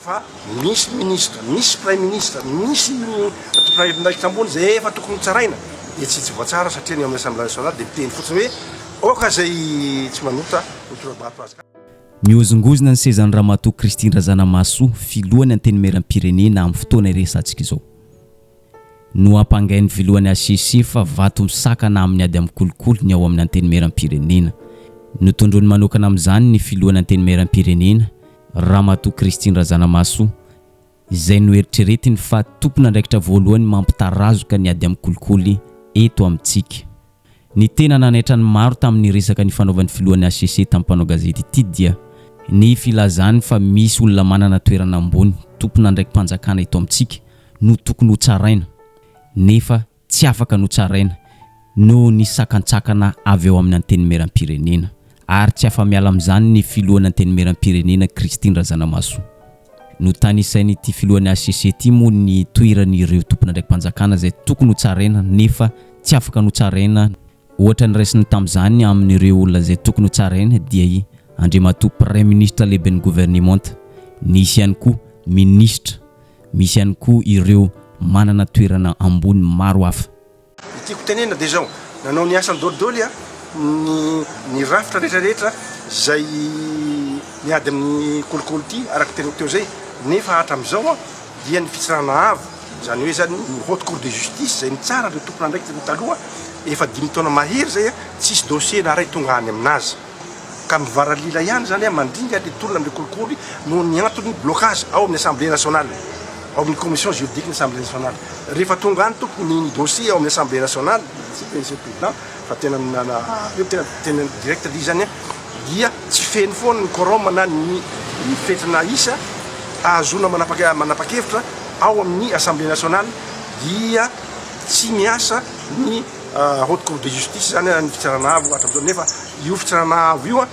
fa misy ministra, misy praiminisitra, misy tompon'andraikitra ambony izay efa tokony hotsaraina dia tsy tsy voatsara satria ny ao amin'ny Assembla nationale dia miteny fotsiny hoe aoka izay tsy manota ho tora-bato azy. Mihozongozona ny sezan'i Ramatoa Christine Razanamahasoa, Filohan'ny Antenimieram-pirenena amin'ny fotoana iresahantsika izao. Nohampangain'ny Filohan'ny hcc fa vato misakana amin'ny ady amin'ny kolikoly ny ao amin'ny Antenimieram-pirenena. Notondroiny manokana amin'izany ny Filohan'ny Antenimieram-pirenena, Ramatoa Christine Razanamahasoa, izay noeritreretiny fa tompon'andraikitra voalohany mampitarazoka ny ady amin'ny kolikoly eto amintsika. Ny tena nanaitra ny maro tamin'ny resaka nifanaovan'ny filohan'ny hcc tamin'ny mpanao gazety ity dia ny filazany fa misy olona manana toerana ambony, tompon'andraiki-panjakana eto amintsika, no tokony hotsaraina, nefa tsy afaka notsaraina noho ny sakantsakana avy ao amin'ny Antenimierampirenena ary tsy afa-miala amin'izany ny filohan'ny Antenimierampirenena Christine Razanamahasoa. Notanisain'ity filohan'ny hcc ity moa ny toeran'ireo tompon'andraiki-panjakana izay tokony hotsaraina nefa tsy afaka notsaraina Ohatra ny raisiny tamin'izany amin'ireo olona izay tokony ho tsaraina dia i Andriamatoa Praiminisitra Lehiben'ny Governemanta. Nisy ihany koa Minisitra, misy ihany koa ireo manana toerana ambony maro hafa. Ny tiako tenenina dia izao, nanao ny asany dolidoly ny ny rafitra rehetra rehetra izay miady amin'ny kolikoly ity araka ny teniko teo izay nefa hatramin'izao dia ny Fitsarana Avo, izany hoe izany ny Haute Cour de Justice izay nitsara ireo tompon'andraikitra ireo taloha efa dimy taona mahery izay, tsisy dossier na iray tonga any aminazy ka mivaralila ihany izany mandringa ilay tolona amin'ilay kolikoly noho ny antony blocage ao amin'ny Assemblée Nationale, ao amin'ny Commission Juridique ny Assemblée Nationale. Rehefa tonga any tompoko ny ny dossier ao amin'ny Assemblée Nationale, Monsieur le Président, fa tena tena direct ry izany an! dia tsy feno foana ny quorum na ny fetrana isa ahazoana manapa-kevitra ao amin'ny Assemblée nationale dia tsy miasa ny Haute Cour de Justice, izany ny Fitsarana Avo hatramin'izao, nefa io Fitsarana Avo io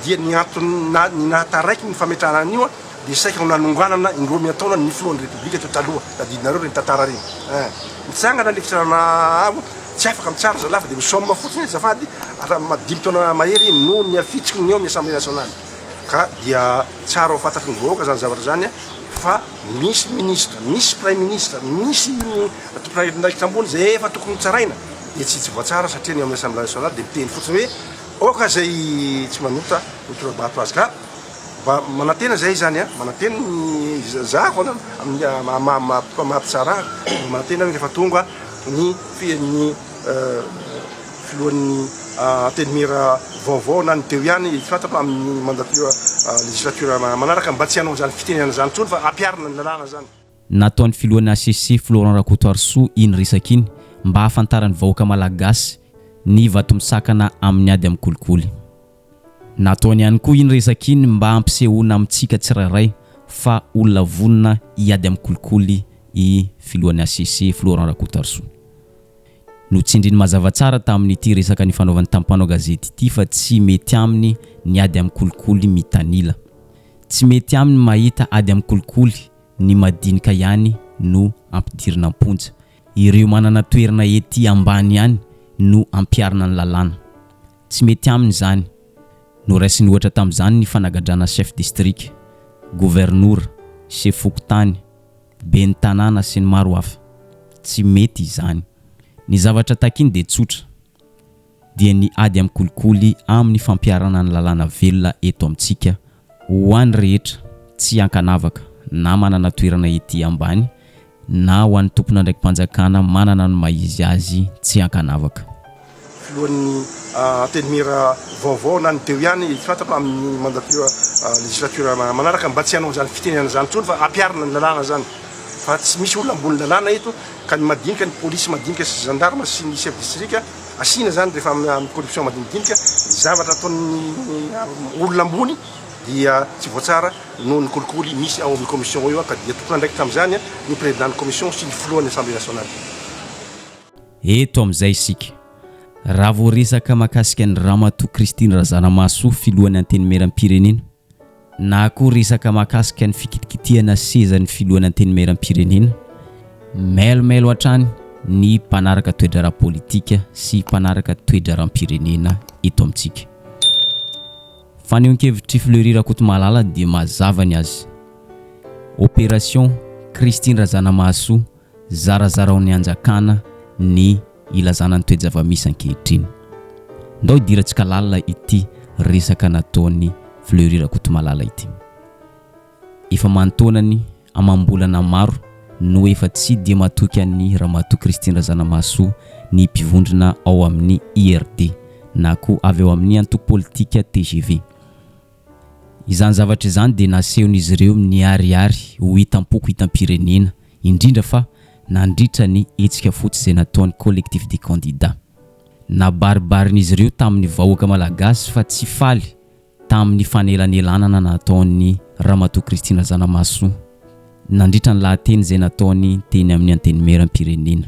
dia ny antony nahataraiky ny fametrahana an'io Dia saika ho nanonganana indroa miantaona ny filohan'ny Repoblika teo taloha. Tadidinareo ireny tantara ireny eh. Mitsangana ilay fitondrana avo, tsy afaka mitsara zalahy fa dia misaoma fotsiny azafady raha ma dimy taona mahery no niafitsiky ny ao amin'ny Assemblée Nationale. Ka dia tsara ho fantatry ny vahoaka izany zavatra izany eh, fa misy ministra, misy praiminisitra, misy ny tompon'andraikitra ambony izay efa tokony hotsaraina dia tsy tsy voatsara satria ny ao amin'ny Assemblée Nationale dia miteny fotsiny hoe aoka izay tsy manota ho tora-bato azy. Ka Mba manantena izay izany a, manantena ny za foana amin'ny maha-mpitsara ahy, manantena aho rehefa tonga ny ny filohan'ny antenimiera vaovao na ny teo ihany, tsy fantatra amin'ny mandature législature manaraka, mba tsy hanao an'izany fitenenana izany intsony fa ampiharina ny lalàna izany. Nataon'ny filohan'ny hcc, Florent Rakotoarisoa, iny resaka iny mba hahafantaran'ny vahoaka malagasy ny vato misakana amin'ny ady amin'ny kolikoly. Nataony ihany koa iny resaka iny mba hampisehoana amintsika tsirairay fa olona vonona hiady amin'ny kolikoly i filohan'ny hcc, Florent Rakotarisoa. Notsindriny mazava tsara tamin'ity resaka nifanaovany tamin'ny mpanao gazety ity fa tsy mety aminy ny ady amin'ny kolikoly mitanila. Tsy mety aminy mahita ady amin'ny kolikoly ny madinika ihany no ampidirina am-ponja. Ireo manana toerana ety ambany ihany no ampiharina ny lalàna. Tsy mety aminy izany. Noraisiny ohatra tamin'izany ny fanagadrana chef distrika, governora, chef fokontany, ben'ny tanàna sy ny maro hafa. Tsy mety izany. Ny zavatra takiny dia tsotra, dia ny ady amin'ny kolikoly amin'ny fampiharana ny lalàna velona eto amintsika Ho an'ny rehetra, tsy ankanavaka, na manana toerana ety ambany, na ho an'ny tompon'andraiki-panjakana manana ny maha izy azy tsy ankanavaka. Filohan'ny Antenimiera vaovao na ny teo ihany, tsy fantatrao amin'ny mandatura legislature manaraka, mba tsy hanao izany fitenenana izany intsony fa ampiharina ny lalàna izany fa tsy misy olona ambony lalàna eto ka ny madinika, ny polisy madinika sy gendarme sy ny chef district, asiana zany rehefa amin'ny corruption madinidinika ny zavatra ataon'ny olona ambony dia tsy voatsara noho ny kolikoly misy ao amin'ny commission ao io ka dia tompon'andraikitra amin'izany ny président ny commission sy ny filohan'ny assemblée nationale. Eto amin'izay isika. Raha vao resaka mahakasika an'i Ramatoa Christine Razanamahasoa filohan'ny Antenimierampirenena. Na koa resaka mahakasika ny fikitikitihana sezan'ny filohan'ny Antenimierampirenena, mailomailo hatrany ny mpanaraka toe-draharaha politika sy mpanaraka toe-draharaham-pirenena eto amintsika. Fanehoan-kevitr'i Fleury Rakotomalala dia mazava ny azy, Opération Christine Razanamahasoa, Zarazaraon'ny Hanjakana ny ilazana ny toe-java-misy ankehitriny. Ndao hidirantsika lalina ity resaka nataon'i Fleury Rakotomalala ity. Efa manintaonany amam-bolana maro no efa tsy dia matoky an'i Ramatoa Christine Razanamahasoa ny mpivondrona ao amin'ny IRD na koa avy ao amin'ny antoko politika tgv. Izany zavatra izany dia nasehon'izy ireo miharihary ho hitam-poko hitam-pirenena, indrindra fa nandritra ny hetsika fotsy izay nataon'ny Collectif des candidats. Nabaribarin'izy ireo tamin'ny vahoaka malagasy fa tsy faly tamin'ny fanelanelanana nataon'i Ramatoa Christine Razanamahasoa nandritra ny lahateny izay nataony teny amin'ny Antenimieram-pirenena.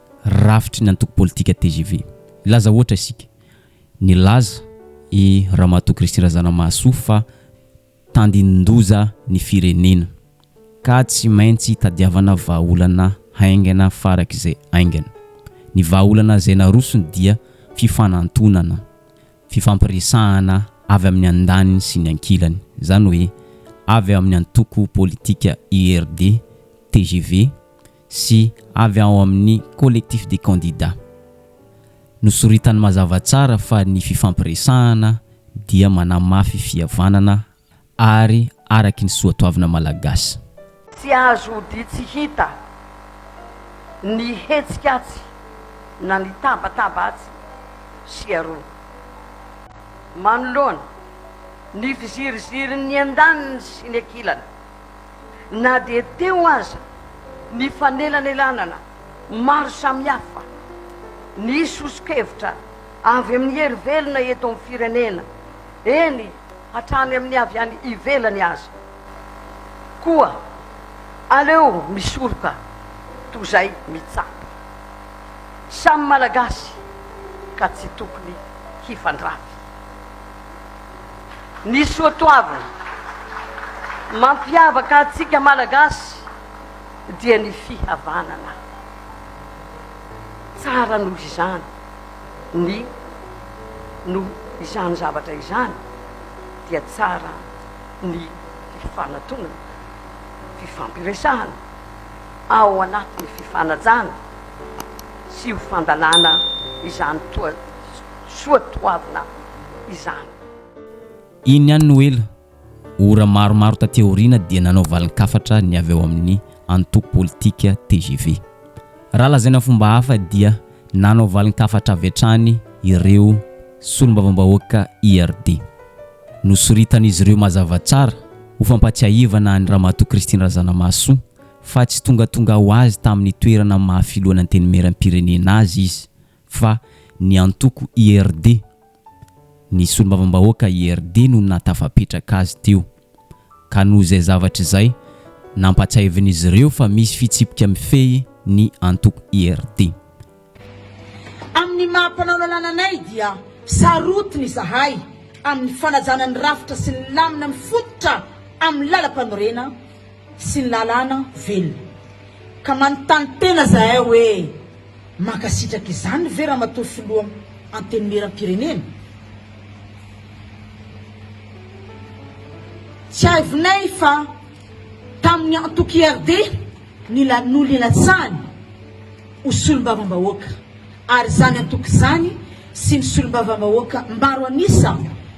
rafitry ny antoko politika tgv. Hilaza ohatra isika. Nilaza i Ramatoa Christine Razanamahasoa fa tandindoza ny firenena ka tsy maintsy tadiavana vahaolana haingana farak'izay haingana. Ny vahaolana izay narosony dia fifanantonana, fifampiresahana avy amin'ny andaniny sy ny ankilany. Izany hoe avy amin'ny antoko politika IRD, tgv, sy avy ao amin'ny Collectif des candidats. Nosoritany mazava tsara fa ny fifampiresahana dia manamafy fihavanana ary araky ny soatoavina malagasy. Tsy azo odian tsy hita ny hetsika atsy na ny tabataba atsy sy aroa. Manoloana ny fizirizirin'ny andaniny sy ny ankilany. na dia teo aza ny fanelanelanana maro samihafa, ny soso-kevitra avy amin'ny hery velona eto amin'ny firenena, eny hatrany amin'ny avy any ivelany aza. Koa aleo misoroka toa izay mitsapa. Samy Malagasy ka tsy tokony hifandrafy. Ny soatoavina mampiavaka antsika Malagasy dia ny fihavanana. Tsara noho izany ny noho izany zavatra izany dia tsara ny fifanatonana, fifampiresahana ao anatin'ny fifanajana sy ho fandalana izany toa soatoavina izany. Iny ihany no ela, ora maromaro taty aoriana dia nanao valin-kafatra ny avy ao amin'ny antoko politika tgv. Raha lazaina fomba hafa dia nanao valin-kafatra avy hatrany ireo solombavambahoaka IRD. Nosoritan'izy ireo mazava tsara ho fampatsiahivana an'i Ramatoa Christine Razanamahasoa fa tsy tongatonga ho azy tamin'ny toerana maha filohan'Antenimierampirenena azy izy fa ny antoko IRD, ny solombavambahoaka IRD no nahatafapetraka azy teo, ka noho izay zavatra izay, nampahatsiahivin'izy ireo fa misy fitsipika mifehy ny antoko IRD. Amin'ny maha mpanao lalàna anay dia sarotiny izahay amin'ny fanajana ny rafitra sy ny lamina mifototra amin'ny lalampanorena, sy ny lalàna velona. Ka manontany tena izahay hoe mankasitraka izany ve Ramatoa Filoha Antenimieram-pirenena? Tsiahivinay fa tamin'ny antoko IRD no nilatsahany ho solombavambahoaka ary izany antoko izany sy ny solombavambahoaka maro an'isa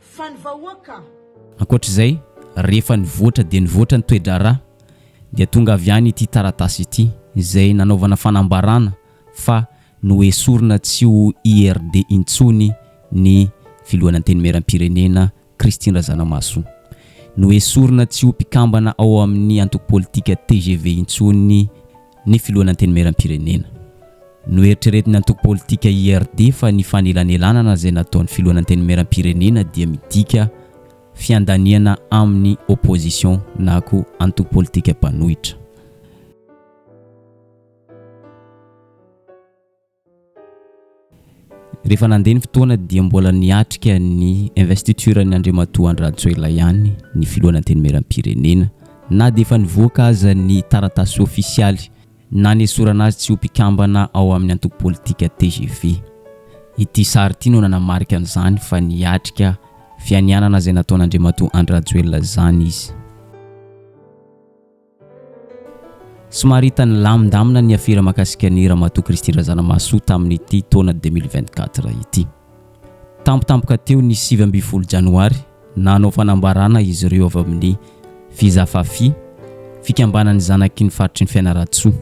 Fa ny vahoaka. Ankoatra izay, rehefa nivoatra dia nivoatra ny toe-draharaha, dia tonga avy any ity taratasy ity, izay nanaovana fanambarana fa noesorina tsy ho IRD intsony ny Filohan'ny Antenimierampirenena, Christine Razanamahasoa. Noesorina tsy ho mpikambana ao amin'ny antoko politika tgv intsony ny. Ny Filohan'ny Antenimierampirenena. Noeritreretin'ny antoko politika IRD fa ny fanelanelanana izay nataon'ny Filohan'ny Antenimierampirenena dia midika fiandaniana amin'ny opposition na koa antoko politika mpanohitra. Rehefa nandeha ny fotoana dia mbola niatrika ny investiture an'i Andriamatoa Andry Rajoelina ihany ny filohana Antenimierampirenena na dia efa nivoaka aza ny taratasy ofisialy nanesorana azy tsy ho mpikambana ao amin'ny antoko politika tgv. Ity sary ity no nanamarika an'izany fa niatrika fianianana izay nataon'Andriamatoa Andry Rajoelina izany izy. Somary hita nilamindamina ny afera mahakasika ny Ramatoa Christine Razanamahasoa tamin'ity taona deux mille vingt quatre ity. Tampotampoka teo ny sivy ambin'ny folo janoary, nanao fanambarana izy ireo avy amin'ny Fizafafi, fikambanan'ny zanaky ny faritry ny Fianarantsoa.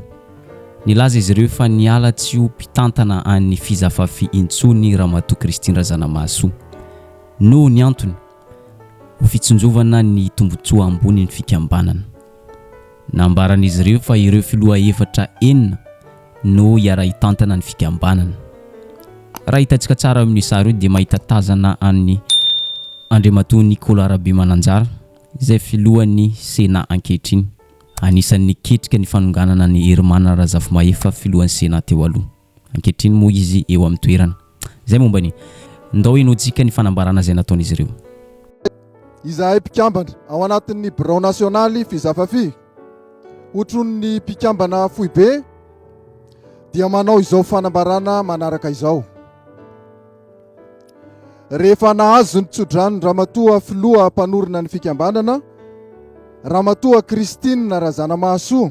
Nilaza izy ireo fa niala tsy ho mpitantana an'ny Fizafafi intsony Ramatoa Christine Razanamahasoa. Noho ny antony. ho fitsinjovana ny tombontsoa ambonin'ny fikambanana. Nambaran'izy ireo fa ireo filoha efatra enina no hiara-hitantana ny fikambanana. Raha hitantsika tsara eo amin'io sary io dia mahita tazana an'i Andriamatoa Nicolas Rabemananjara izay filohan'ny Sénat ankehitriny. Anisan'ny niketrika ny fanonganana an'i Herimana Razafimahefa filohan'ny Sénat teo aloha. Ankehitriny moa izy eo amin'ny toerana. Izay momba ny. Ndao hinojika ny fanambarana izay nataon'izy ireo. Izahay mpikambana ao anatin'ny birao nasionaly Fizafafi, otron'ny mpikambana foibe, dia manao izao fanambarana manaraka izao. Rehefa nahazo ny tsodrano Ramatoa Filoha Mpanorina ny Fikambanana, Ramatoa Christine Razanamahasoa,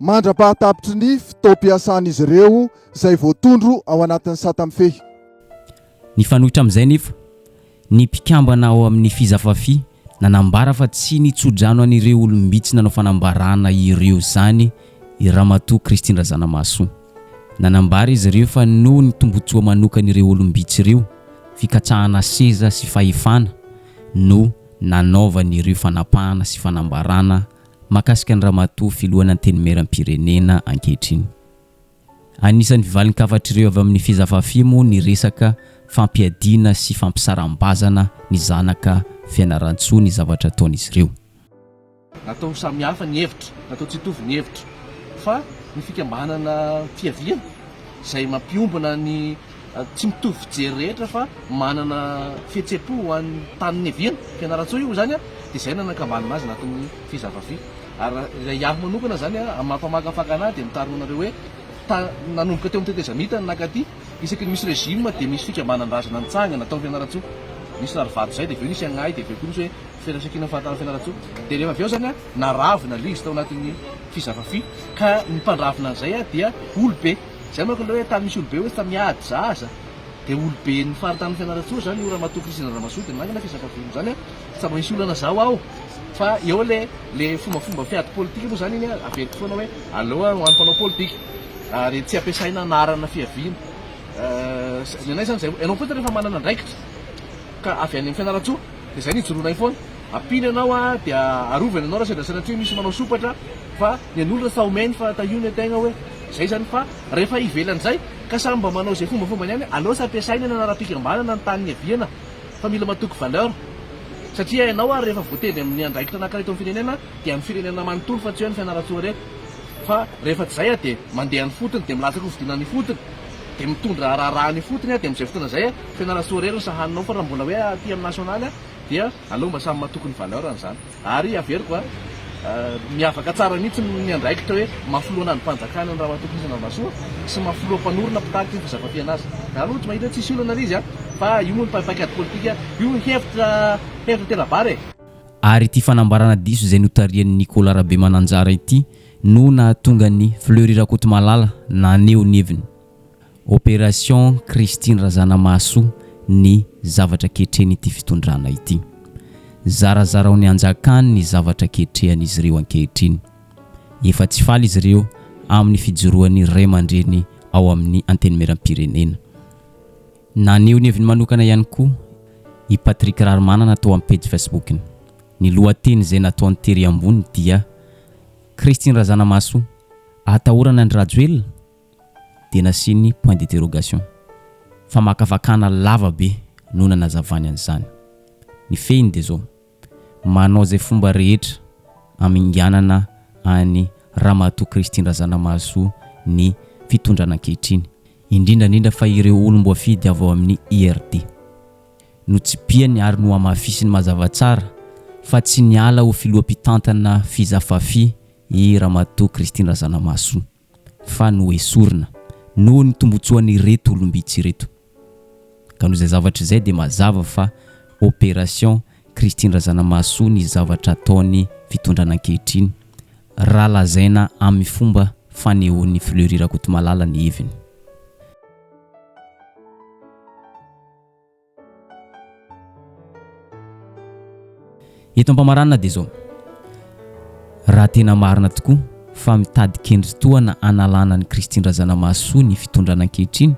mandra-pahatapitry ny fotoam-piasan'izy ireo izay voatondro ao anatin'ny sata mifehy. Nifanohitra amin'izay anefa, ny mpikambana ao amin'ny Fizafafi nanambara fa tsy nitso-drano an'ireo olom-bitsy nanao fanambarana ireo izany i Ramatoa Christine Razanamahasoa. Nanambara izy ireo fa noho ny tombontsoa manokan'ireo olom-bitsy ireo, fikatsahana seza sy fahefana, no nanaovany ireo fanapahana sy fanambarana mahakasika ny Ramatoa Filohan' Antenimieram-pirenena ankehitriny. Anisan'ny valin-kafatr'ireo avy amin'ny Fezafafi moa ny resaka fampiadiana sy fampisaram-bazana ny zanaka Fianarantsoa ny zavatra ataon'izy ireo. Natao ho samihafa ny hevitra, natao tsy hitovy ny hevitra fa ny fikambanana fiaviana izay mampiombona ny Tsy mitovy fijery rehetra fa manana fihetsem-po ho an'ny tany niaviany. Fianarantsoa io izany dia izay nanakambanana azy natoa ny fy zava-fy. Ary raha iaho manokana izany amin'ny maha mpamakafaka anahy dia mitarina anareo hoe ta nanomboka teo amin'ny tetezamita ny nakaty isaky ny misy régime dia misy fikambanan-drazana nitsangana tao fianarantsoa nisy rarivato izay dia avy eo nisy agnahy dia avy eo koa nisy hoe firaisankina fahatany fianarantsoa dia rehefa avy eo izany naravina ilay izy tao anatin'ny fy zava-fy ka ny mpandravina an'izay dia olo-be Izay manko ilay hoe tany misy olobe hoe tamy ady zaza dia oloben'ny faritanin'i Fianarantsoa izany io ramatoa Christine Ramazoa dia nangina fiezakaviny izany a, tsy tsaroana hisy olana za ho aho fa eo le le fombafomba fiady politika moa izany iny a, averiko foana hoe aleo a ho an'ny mpanao politika ary tsy ampiasaina anarana fiaviana eh, ny anay izany izay, ianao fotsiny rehefa manana andraikitra ka avy any amin'ny Fianarantsoa dia izay no ijoroanay foana, ampino ianao a dia arovany ianao raha sendra Fianarantsoa misy manao sompatra fa ny an'olona sao main fa tahio ny an-tegna hoe. Zay zany fa rehefa ivelany zay ka samy mba manao izay fombafombany any aleo tsy ampiasaina eny anarapikambanana ny tany niaviana fa mila matoky valeur satria hainao ary rehefa voatendry amin'ny andraikitra anakira eto amin'ny firenena dia amin'ny firenena manontolo fa tsy hoe ny fianarantsoa re fa rehefa tsy zay a dia mandeha any fotony dia milatsaka hovidiana any fotony dia mitondra raharaha any fotony a dia amin'izay fotoana zay a fianarantsoa rery ny sahaninao fa raha mbola hoe aty amin'ny nationaly a dia aleo mba samy matoky ny valeur an'izany Ary averiko a, miavaka tsara mihitsy ny andraikitra hoe maha-filoha an'andrim-panjakana an'i Ramatoa Christine Ravasoa sy maha-filoha mpanorina mpitaky ny fizakam-piaina azy. Za aloha tsy mahita hoe tsisy olana ilay izy a, fa io moa ny paikady politika, io ny hevitra hevitra tera-bary e. Ary ity fanambarana diso izay notarihan'i Nicolas Rabemananjara ity no nahatonga an'i Fleury Rakotomalala naneho ny heviny. Opération Christine Razanamahasoa ny zavatra ketreny ity fitondrana ity. Zarazarao ny hanjakany ny zavatra ketrehan'izy ireo ankehitriny. Efa tsy faly izy ireo amin'ny fijoroan'ny raimandreny ao amin'ny Antenimierampirenena. Naneho ny heviny manokana ihany koa i Patrick Raharimanana tao amin'ny pejy Facebook-ny. Ny lohateny izay nataony tery ambony dia, Christine Razanamahasoa, atahorana an-dRajoelina? dia nasiany point d'interrogation. Famakafakana lava be no nanazavany an'izany. Ny fehiny dia izao, manao izay fomba rehetra haminganana an'i Ramatoa Christine Razanamahasoa ny fitondrana ankehitriny, indrindra indrindra fa ireo olom-boafidy avy ao amin'ny IRD. Notsipihany ary nohamafisiny mazava tsara fa tsy niala ho filoham-pitantana Fiza Fafi i Ramatoa Christine Razanamahasoa. fa noesorina noho ny tombotsoan'ireto olom-bitsy ireto. Ka noho izay zavatra izay dia mazava fa opération Christine Razanamahasoa ny zavatra ataon'ny fitondrana ankehitriny raha lazaina amin'ny fomba fanehoan'i Fleury Rakotomalala ny heviny. Eto am-pamaranana dia izao, raha tena marina tokoa fa mitady kendry tohana hanalana an'i Christine Razanamahasoa ny fitondrana ankehitriny,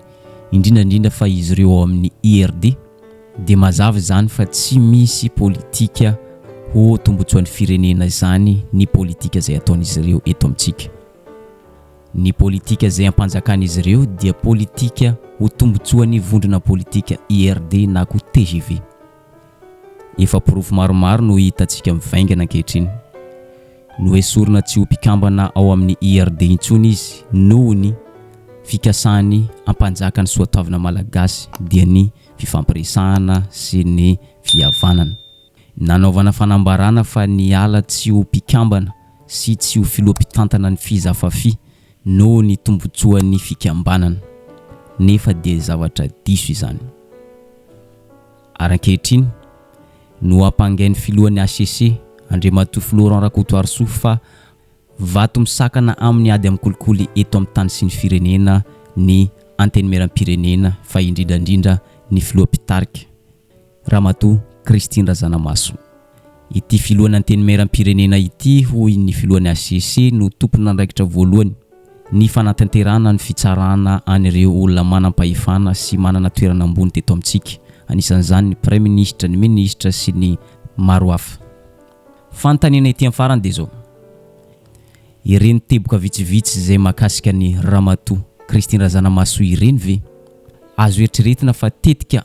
indrindra indrindra fa izy ireo ao amin'ny IRD, dia mazava izany fa tsy misy politika ho tombotsoan'ny firenena izany ny politika izay ataon'izy ireo eto amintsika. Ny politika izay ampanjakan'izy ireo dia politika ho tombontsoan'ny vondrona politika IRD na koa tgv. Efa porofo maromaro no hitantsika mivaingana ankehitriny. Noesorina tsy ho mpikambana ao amin'ny IRD intsony izy noho ny fikasany hampanjaka ny soatoavina malagasy dia ny fifampiresahana sy ny fihavanana. Nanaovana fanambarana fa ny ala tsy ho mpikambana sy tsy ho filoha mpitantana ny Fizafafi noho ny tombotsoan'ny fikambanana. Nefa dia zavatra diso izany. Ary ankehitriny, nohampangain'ny filohan'ny hcc, Andriamatoa Florent Rakotoarisoa fa vato misakana amin'ny ady amin'ny kolikoly eto amin'ny tany sy ny firenena ny Antenimierampirenena fa indrindra indrindra ny filoha mpitarika Ramatoa Christine Razanamaso. Ity filohan'ny Antenimierampirenena ity hoy ny filohan'ny hcc no tompon'andraikitra voalohany ny fanatanterahana ny fitsarana an'ireo olona manam-pahefana sy manana toerana ambony teto amintsika, anisan'izany ny praiminisitra, ny minisitra sy ny maro hafa. Fanontaniana ety amin'ny farany dia izao, ireny teboka vitsivitsy izay mahakasika an'i Ramatoa Christine Razanamaso ireny ve azo eritreretina fa tetika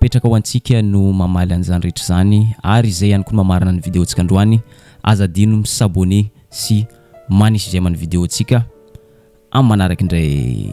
Apetraka ho antsika no mamaly an'izany rehetra izany ary izay ihany koa no mamarana ny video-ntsika androany. Aza adino mi s'abonner sy manisy j'aime ny video-ntsika. Amin'ny manaraka indray.